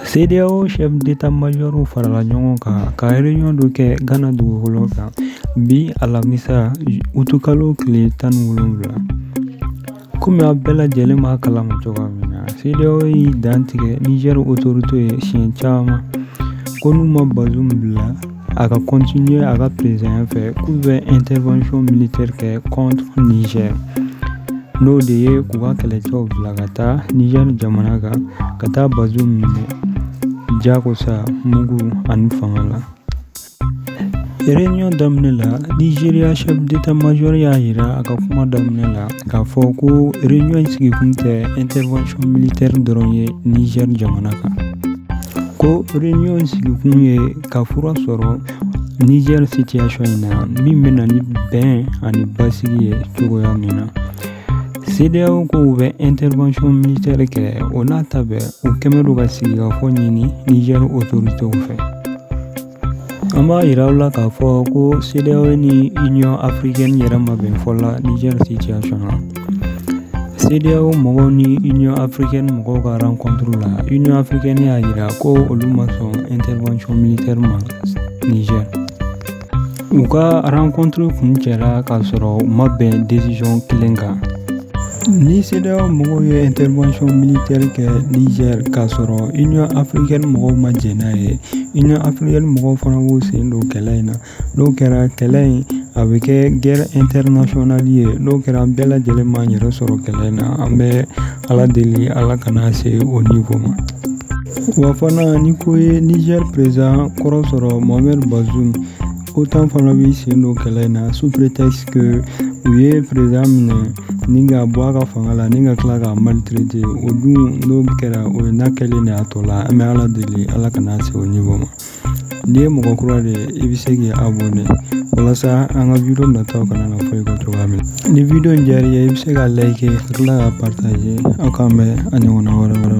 CEDEAO chef d'état-major farala ɲɔgɔn kan ka réunion dɔ kɛ Ghana dugukolo kan bi alamisa utukalo tile tan ni wolonwula komi a bɛɛ lajɛlen b'a kalama cogoya min na CEDEAO y'i dantigɛ Niger autorité ye siɲɛ caman ko n'u ma Bazoum bila a ka continuer a ka présidentya fɛ k'u bɛ intervention militaire kɛ contre Niger n'o de ye k'u ka kɛlɛcɛw bila ka taa Niger jamana kan ka taa Bazoum minɛ jakosa mugu ani fanga la Réunion daminɛ la Nigeria chef d'état-major y'a jira a ka kuma daminɛ la k'a fɔ ko réunion sigikun tɛ intervention militaire dɔrɔn ye Niger jamana kan ko réunion sigikun ye ka fura sɔrɔ Niger situation in na min bɛ na ni bɛn ani basigi ye cogoya min na CEDEAO ko u bɛ intervention militaire kɛ o n'a ta bɛɛ u kɛmɛ don ka sigikafɔ ɲini Niger autoritéw fɛ an b'a yira aw la k'a fɔ ko CEDEAO ni union africaine yɛrɛ ma bɛn fɔ la Niger situation na CEDEAO mɔgɔw ni Union africaine mɔgɔw ka rencontre la Union africaine y'a jira ko olu ma sɔn intervention militaire ma Niger u ka rencontre kuncɛla k'a sɔrɔ u ma bɛn décision kelen kan ni CEDEAO mɔgɔw ye intervention militaire kɛ Niger k'a sɔrɔ Union africaine mɔgɔw ma jɛn n'a ye Union africaine mɔgɔw fana b'u sen don kɛlɛ in na n'o kɛra kɛlɛ in a bɛ kɛ guerre internationale ye n'o kɛra an bɛɛ lajɛlen b'an yɛrɛ sɔrɔ kɛlɛ in na an bɛ ala deli ala kana se o niveau ma wa fana ni ko ye Niger président kɔrɔ sɔrɔ Mohamed Bazoum OTAN fana b'i sen don kɛlɛ in na sous prétexte u ye président minɛ ni k'a bɔ a ka fanga la ni ka tila k'a maltraiter o dun n'o kɛra o ye n'a kɛlen de y'a tɔ la an bɛ ala deli ala kana se o niveau ma N'i ye mɔgɔ kura de ye i bɛ se k'i abonné walasa an ka video nataw kana na fɔ i kɔ cogoya min na ni video in diyara i ye i bɛ se k'a like ka tila k'a partager aw k'an bɛn a ɲɔgɔnna wɛrɛ wɛrɛ